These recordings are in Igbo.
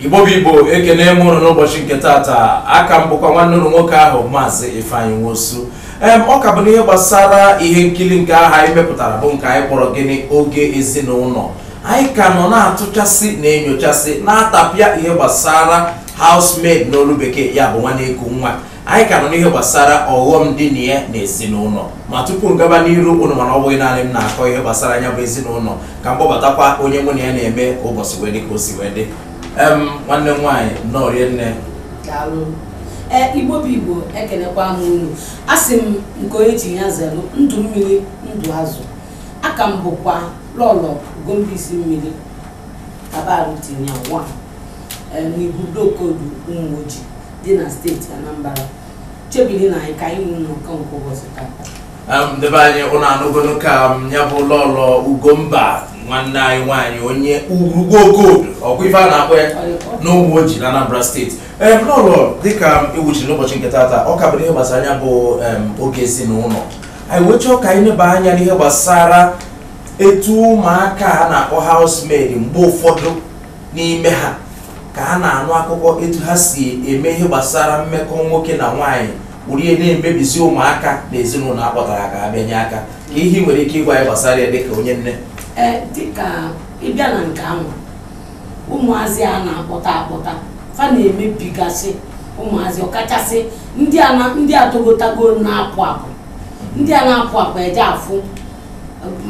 igbo bụ igbo ekene m unu n'ụbọchị nke taata aka m bụkwa nwanne unu nwoke ahụ maazị ifeanyị nwosu em ọ ka bụ n'ihe gbasara ihe nkiri nke ahụ anyị mepụtara bụ nke anyị kpọrọ gịnị oge ezinụlọ anyị ka nọ na-atụchasị na-enyochasị na-atapịa ihe gbasara housemaid n'olu bekee ya bụ nwa na-eku nwa anyị ka nọ n'ihe gbasara ọghọm dị na ya na ezinụlọ ma tupu m gaba n'iru unu ma na ọ bụghị naanị m na-akọ ihe gbasara nya bụ ezinụlọ ka m kpọbatakwa onye mụ na ya na-eme ka ụbọchị wee dị ka o si wee dị em nwanne m nwaanyị nnọọ rinne daalụ ee igbo bụ igbo ekelekwa m unu a sị m nke onye chi ya zelu ndụ mmiri ndụ azụ aka m bụkwa lọlọ ugomba isi mmiri kabaru tinye nwa ee n'ibu dokodu ụmụoji dị na steeti Anambra chebiri na anyị ka anyị nwee nnọkọ nke ụbọchị tata Em, ndị be anyị unu anụgonu ka nya bụ lọlọ ugomba nwanne anyị nwaanyị onye urugbo okodo ọkwa ife a na-akpọ ya n'ụmụoji na anambra steeti em lọlọ dịka i kwuchiri n'ụbọchị nke tata ọ ka bụrụ ihe gbasara nya bụ em, oge ezinụlọ anyị wee chọọ ka anyị neba anya n'ihe gbasara etu ụmụaka a na-akpọ housemaid mgbe ụfọdụ n'ime ha ka a na-anụ akụkọ etu ha si eme ihe gbasara mmekọ nwoke na nwaanyị were ya na-emebizi ụmụaka na ezinụlọ a kpọtara ka ha bịa nye aka kee ihe i nwere ike ịgwa anyị gbasara ya dịka onye nne ee dịka ị bịa na nke anwa ụmụazị a na-akpọta akpọta fa na-emebigasị ụmụazị ọkachasị ndị a na- ndị a togotago na-apụ apụ ndị a na-apụ apụ eje afụ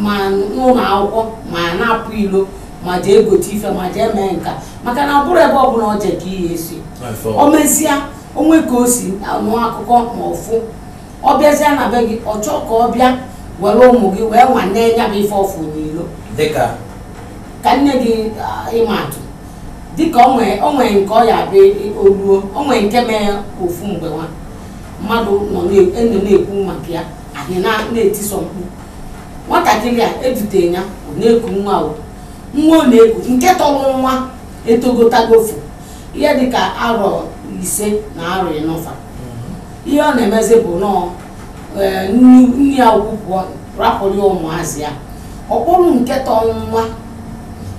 ma n'ụlọ akwụkwọ ma na-apụ ilo ma jee egote ife ma jee mee nka maka na ọ bụrụ ebe ọbụla ọ je ka ihe esi o mesịa o nwee ka o si anụ akụkọ ma ọ fụ ọ bịazie na be gị ọ chọọ ka ọ bịa were ụmụ gị wee nwanee ya bụ ife ọ fụ n'ilo dịka ka m nye gị ah, ịma atụ dịka o nwee o nwee nke ọ ya-abụ o luo o nwee nke mee ofu mgbe nwa mmadụ nọ na- nọ na-ekwu maka ya anyị na- na-etisọ mkpu nwatakịrị a edute ya ọ na-eku nwa o nwa ọ na-eku nke tọrọ nwa etogotagofu ihe dịka arọ ise na arọ ịnọ fa ihe ọ na-emezi bụ nọọ ee, nne nne ya ukwu pụọ rapụrụ ya ụmụazị ya ọ kpọrọ nke tọrọ nwa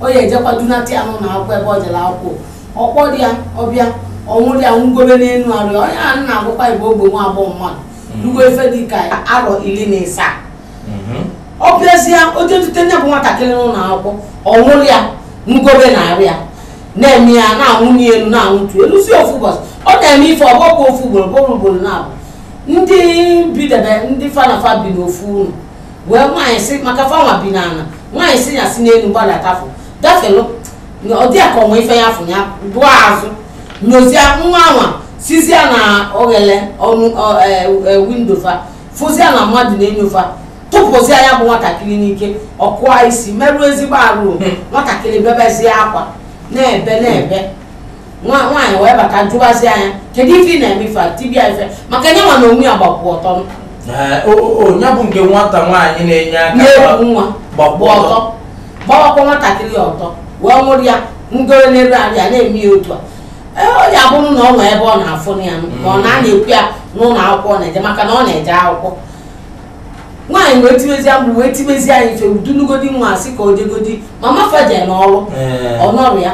ọ ya-ejekwa dunata ya n'ụlọ akwụkwọ ebe ọ jere akwụkwọ ọ kpọrọ ya ọ bịa ọ nwụrụ ya nwụgobe n'elu arụ ya onye a na-agwakwa gị bụ ogbe nwa agbọghọ mmadụ rugo ife dị ka arọ iri na ịsaa mhm. ọ bịazie o je dute nya bụ nwatakịrị n'ụlọ akwụkwọ ọ nwụrụ ya nwụgobe na arụ ya na-eme ya na-anwụnie elu na-anwụtu elu si ofu ụbọchị ọ na-eme ife ọ bụrọkwa ofu ugboro ọ bụrọ ugboro naabọ ndị bidebe ndị fa na fa bi n'ofu ụlọ wee nwaanyị si maka fa nwa bi n'ala nwaanyị sị ya si n'elu gbadatafu gafelu ọ dị ya ka o nwee ife ya fụ ya dụọ azụ nyozie nwa anwa sizie na oghele ọnụ windo e, e, fa fụzie na mmadụ na-enyo fa tụpụzie ya bụ nwatakịrị n'ike ọ kụa isi merụọ ezigbo arụ hmm. nwatakịrị bebezie akwa na-ebe na-ebe nwa nwaanyị wee bata jụwazie ya kedu ife ị na-eme ife a tibe ya ife maka na ya nwa na onwe ya gbapụ ọtọ Ee, o- o- o, ya bụ nke nwata nwaanyị na-enye aka na-eku nwa gbapụ gbapụ ọtọ ọtọ gbawakwa nwatakịrị ọtọ wee nwụrụ ya ngoro n'elu arụ ya na-eme ya otu a Ee, ọ ya bụrụ na o nwe ebe ọ na-afụ ya ma ọ na-ana-ekwu ya n'ụlọ akwụkwọ ọ na-eje maka na ọ na-eje akwụkwọ nwaanyị wee tibezie mkpu wee tibezie ya ife o dulugodi nwa a sị ka o jegodi mama fa je n'ọrụ Ee. ọ nọrọ ya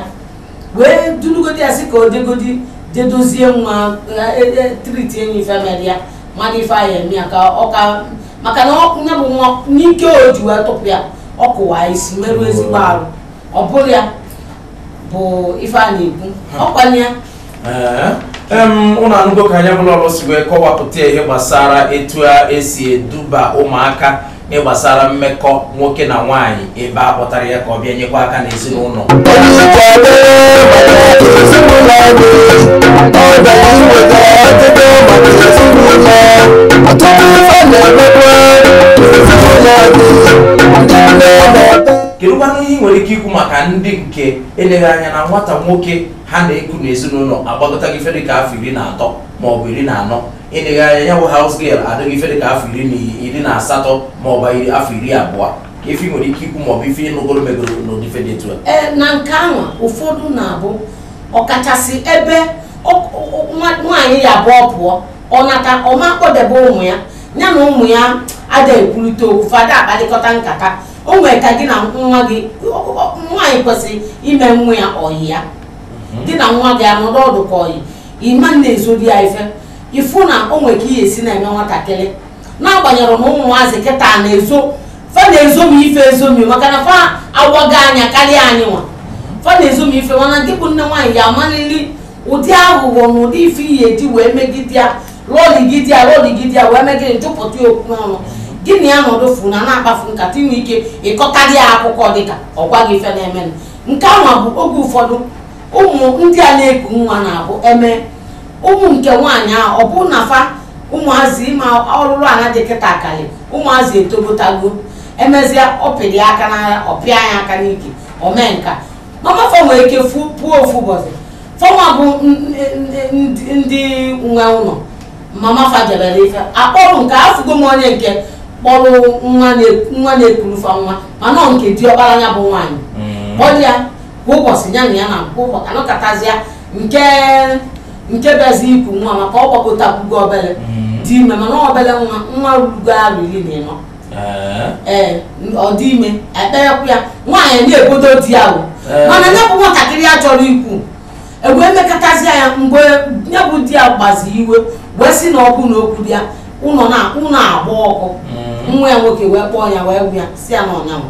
wee dulugodi ya sị ka o jegodi jedozie nwa triti enyi ife mere ya mmadụ ife ahụ eme ya ka ọ ka maka na ọ- ya bụ nwa n'ike o ji wee tụpụ ya ọ kụwa isi merụọ ezigbo arụ ọ bụrụ ya bụ ife a na-ekwu ọkwanye ya Ee, em, ụnụ anụgo ka anya bụla ọlụ si wee kọwapụta ihe gbasara etu e si eduba ụmụaka ịgbasara mmekọ nwoke na nwaanyị ebe a kpọtara ya ka ọ bịa nyekwa aka n'ezinụlọ kedụkwanụ ihe ị nwere ike ikwu maka ndị nke eleghị anya na nwata nwoke ha na-eku n'ezinụlọ agbagotago ife dịka afọ iri na atọ maọbụ iri na anọ eleghị anya ya bụ house girl adịgo ife dịka afọ iri na iri na asatọ ma ọ bụ iri afọ iri abụọ kee ife ị nwere ike ikwu maọbụ ife ị nụgoro megoro n'ụdị ife dị etu a ee na nke ahụ ụfọdụ na-abụ ọkachasị ebe ọ- ọ- nwa- nwaanyị ya abụ ọ pụọ ọ nata ọ ma akpọdebe ụmụ ya ya na ụmụ ya ada ekwurịta okwu fa ada akparịkọta nkata o nwere ka gị na nwa gị ọ- ọ- nwaanyị kwesịrị ime nwa ya ọyị ya gị na nwa gị anọdụ ọdụ ka ọyị ị ma na-ezori ya ife ị fụ na o nwere ka ị ya-esi na-eme nwatakịrị n'agbanyeghị na ụmụazị kịta na-ezo fa na-ezomi ife ezomi maka na fa awaka anya karịa anyị nwa fa na-ezomi ife mana gị bụ nne nwaanyị ya-amalịlị ụdị aghụghọ na ụdị ife ị ya-eji wee megide ya lọligide ya lọligide ya wee megide jụpụta ya okwu n'ọnụ gị na ya nọdụ fụ na na-akpafu nkata i nwe ike ịkọkarị ya akụkọ dịka ọ gwa gị ife na-emenụ nke ahụ bụ oge ụfọdụ ụmụ ndị a na-eku nwa na-abụ eme ụmụ nke nwaanyị ahụ ọ bụrụ na fa ụmụazị ị ma alụlụ ana dị kịta akalị ụmụazị etogotago emezịa ọ pịdị aka n'ala ọ pịa ya aka n'ike o mee nka mama fa nwere ike fu pụọ ofu ụbọchị fanwa bụ n- n- n- ndị nwe ụlọ mama fa jebere ife akpọrụ nke afụgo m onye nke kpọrụ nwa na- nwa na-ekuru fa nwa mana ọ nke diọkpara ya bụ nwaanyị kpọrọ ya kwa ụbọchị ya na ya na kwa ụbọchị anọkọtazịa nke nke bịazi ikwu nwa maka ọ gbakọtakwugo obele mm. dị ime mana obele nwa nwa rugo arọ iri na ịnọ eh. ee ọ dị ime ekperekwu ya nwaanyị na-ebodo di ya bụ eh. mana ya bụ nwatakịrị ya chọrọ ikwu e wee mekatazịa ya mgbe ya bụ di ya gbazi iwe wee sị na ọkụ na okwu dị ya ụlọ na-agba ọkụ mm. nwa ya nwoke wee kpọọ ya wee gwa ya sị ya na ọ nya nwa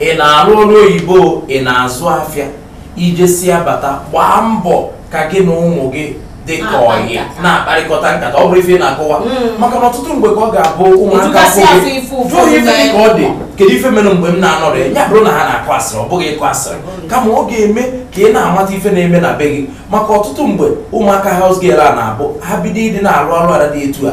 ị na-arụ ọrụ oyibo ị na-azụ afịa i jesịa bata gbaa mbọ ka gị na ụmụ gị dị ka ọyị na-akparịkọta nkata ọ bụrụ ife ị na-akọwa mm. maka na ọtụtụ mgbe ka ọ ga-abụ ụmụaka jụọ ihe ife dị ka ọ dị kedu ife mere mgbe m na-anọrọ ya bụrụ na ha na-akọ asịrị ọ bụghị ịkọ asịrị mm. kama ọ ga-eme ka ị na-amata ife na-eme na be gị maka ọtụtụ mgbe ụmụaka house girl a na-abụ ha bido ịdị na-arụ arụrụala dị etu a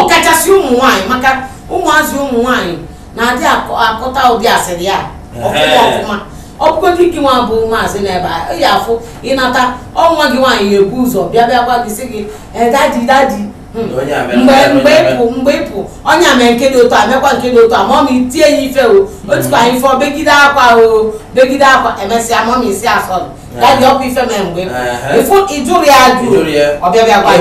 ọkachasị ụmụ nwaanyị maka ụmụazị ụmụ nwaanyị na-adị akọta ụdị asịrị a ọfụma ọfụma ọ bụgodị gị nwa bụ maazị n'ebe a ị ya-afụ ị nata ọ nwa gị nwaanyị ya-ebu ụzọ bịa bịa gwa gị sị gị daddy daddy mgbe ị pụ onye a mee nke dị otu a mekwa nke dị otu a mummy tie ya ife o tikwa nya ife o begide akwa o begide akwa emesịa mummy sị ya sorry daddy ọ kwa ife mee mgbe ị pụ ị jụrọ ya ajụ ọ bịa bịa gwa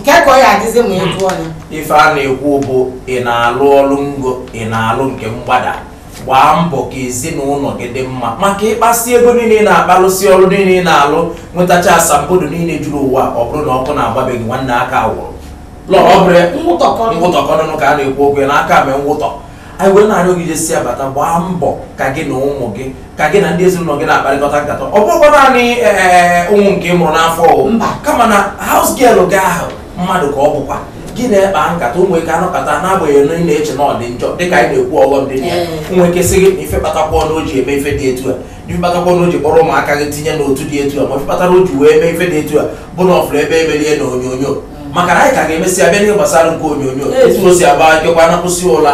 kee ka ọ ya-adịzi ma ị jụọ ya ife a na-ekwu bụ ị na-alụ ọrụ ngo ị na-alụ nke mgbada gbaa mbọ ka ezinụlọ gị dị mma maka ị kpasịa ego niile ị na-akpa lụsịa ọrụ niile ị na-alụ nwetacha asambodo niile juru ụwa ọ bụrụ na ọkụ na-agba be gị nwanne aka wụrụ lọrọ ọ bụrụ ya Mwụtọkọ. ngwụtọkọnụnụ ka a na-ekwu okwu ya n'aka mee ngwụtọ anyị wee na-arịọ gị jesịa bata gbaa mbọ ka gị na ụmụ gị ka gị na ndị ezinụlọ gị na-akparịkọta nkata ọ bụrọkwa naanị ee, ụmụ nke ị mụrụ n'afọ o. Mba. kama na house girl gị ahụ mmadụ ka ọ bụkwa gị na ya kpaa nkata o nwe ike a nọkata n'agbanyeghị na ị na-eche na ọ dị njọ dịka anyị na-ekwu ọghọm dị na ya o nwe ike sị gị na ife kpatakwanụ o ji eme ife dị etu a na ife kpatakwanụ o ji kpọrọ ụmụaka gị tinye n'otu dị etu a ma ife kpatara o ji wee mee ife dị etu a bụ na ọ fụrụ ebe e meli ya na onyonyo maka na anyị ka ga-emesịa bịa n'ihe gbasara nke onyonyo etu o si agba akịkwa na kwụsị ụla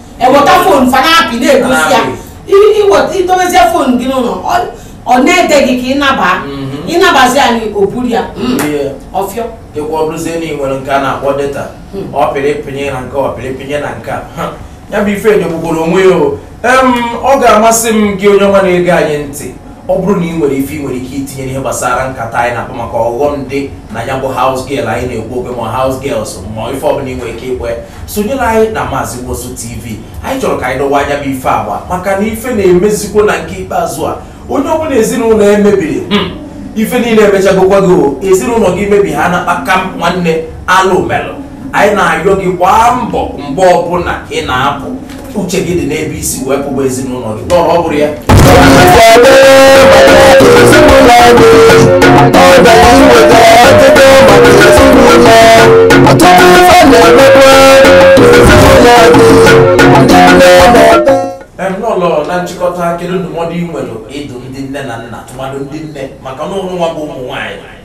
eweta phone fa na-apị na-egosi ya I- i weta i dobezie phone gị n'ụlọ ọ- ọ na-ede gị ka ị naba Mhm. ị nabazi anyị o buru ya Mm, Ihe. ọfịọ dịkwa ọ bụrụzie na ị nwere nke a na-akpọ data ọ pịrị pịnye na nke ọ pịrị pịnye na nke a Ha, ya bụ ife enyegbugoro onwe ya o Em, ọ ga-amasị m gị onye ọma na-ege anyị ntị ọ bụrụ na ị nwere ife ị nwere ike itinye n'ihe gbasara nkata anyị na-akpa maka ọghọm dị na ya bụ house girl anyị na-ekwu okwu ya ma house girls ma ife ọbụla ị nwere ike ikwu sonyere anyị na Maazị Nwosu TV anyị chọrọ ka anyị dọwaa nya bụ ife agba maka na ife na-emezikwo na nke ikpeazụ a onye ọbụla ezinụlọ emebiri hmm, ife niile emechagokwago ezinụlọ gị mebie ha ana kpamkpam nwanne alụ melụ anyị na-ayọ gị gbaa mbọ mgbe ọbụla ị na-apụ uche gị dị n'ebe i si wee pụba ezinụlọ gị nọ ọ bụrụ ya Em, lọlọ na nchịkọta kedu ndụmọdụ ị nwere ịdụ ndị nne na nna tụmadụ ndị nne maka na ụnụ nwa bụ ụmụ nwaanyị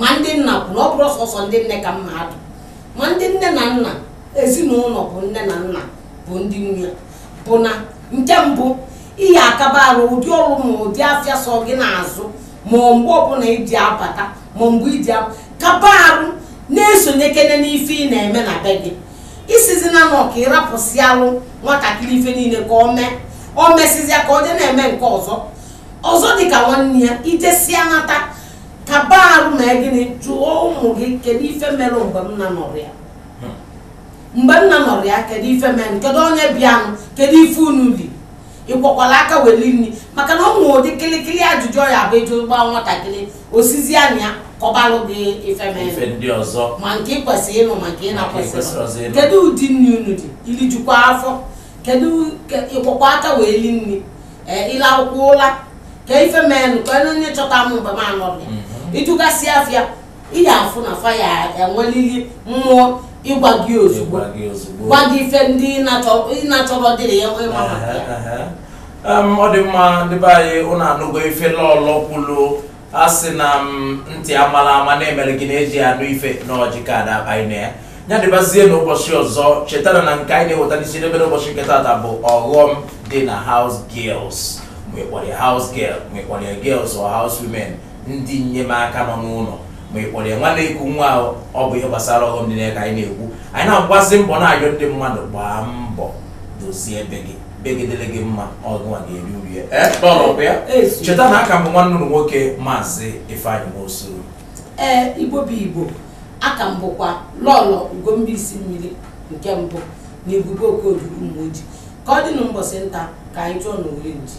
ma ndị nna bụ na ọ bụrọ sọsọ ndị nne ka m ma-adụ ma ndị nne na nna ezinụlọ bụ nne na nna bụ ndị nne bụ na nke mbụ ị ya-akaba arụ ụdị ọrụ ma ụdị afịa sọ gị na-azụ ma mgbe ọbụla i ji abata ma mgbe i ji kaba arụ na-esonyekene n'ife ị na-eme na be gị isizi na nọ ka ị rapụsịalụ nwatakịrị ife niile ka ọ mee ọ mesịzịa ka ọ dị na-eme nke ọzọ ọzọ dịka nwanne ya i jesịa nata kaba arụ ma gịnị jụọ ụmụ gị kedu ife mere mgbe m na-anọrọ ya mgbe m na-anọrọ ya kedu ife mere kedu onye bịalụ kedu ife unu li ị kwọkwalụ aka wee li nri maka na o nwere ụdị kịlịkịlị ajụjụ ya-abụ ị jụba nwatakịrị o sizie na ya kọbalụ gị ife mere ife ndị ọzọ ma nke ị kwesịrị ịnụ ma nke ị na-ekwesịrọ ịnụ. kedu ụdị nri unu li i rijukwa afọ kedu ke- ị kwọkwa aka wee li nri ee ị lakwa ụla kee ife melụ kee onye chọta m mgbe m anọghị ị jụgasịa fa ya ị ya-afụ na fa ya-enwelili mmụọ ịgwa gị ozugbo gwa gị ife ndị ị na-achọ- ị na-achọrọ dịrị ya ịma maka ya Em, ọ dị mma ndị be anyị ụnụ anụgo ife lọlọ kwulu a sị na m ntị amala ama na-emere gị na e ji anụ ife na ọjị ka ada akpaghị na ya dịbazie n'ụbọchị ọzọ chetara na nke anyị na-eweta n'isi n'ebe n'ụbọchị nke tata bụ ọghọm dị na house girls ma ị kpọrọ ya house girl ma ị kpọrọ ya girls or house women ndị nnyemaka nọ n'ụlọ ma ị kpọrọ ya nwa na-eku nwa ahụ, ọ bụ ihe gbasara ọghọm dị na ya ka anyị na-ekwu anyị na-agbazi mbọ na-ayọ ndị mmadụ gbaa mbọ dozie be gị be gị dịrị gị mma ọ gịnwa ga-eri uru ya ee lọlọ ọ kwa ya cheta na a ka m bụ nwanne ụnụ nwoke maazị ifeanyị nwosu ee igbo bụ igbo a ka m bụkwa lọlọ ugombaisi mmiri nke mbụ na ebube okodu ụmụoji ka ọ dị na mbọsị nta ka anyị chụọ na owere nchi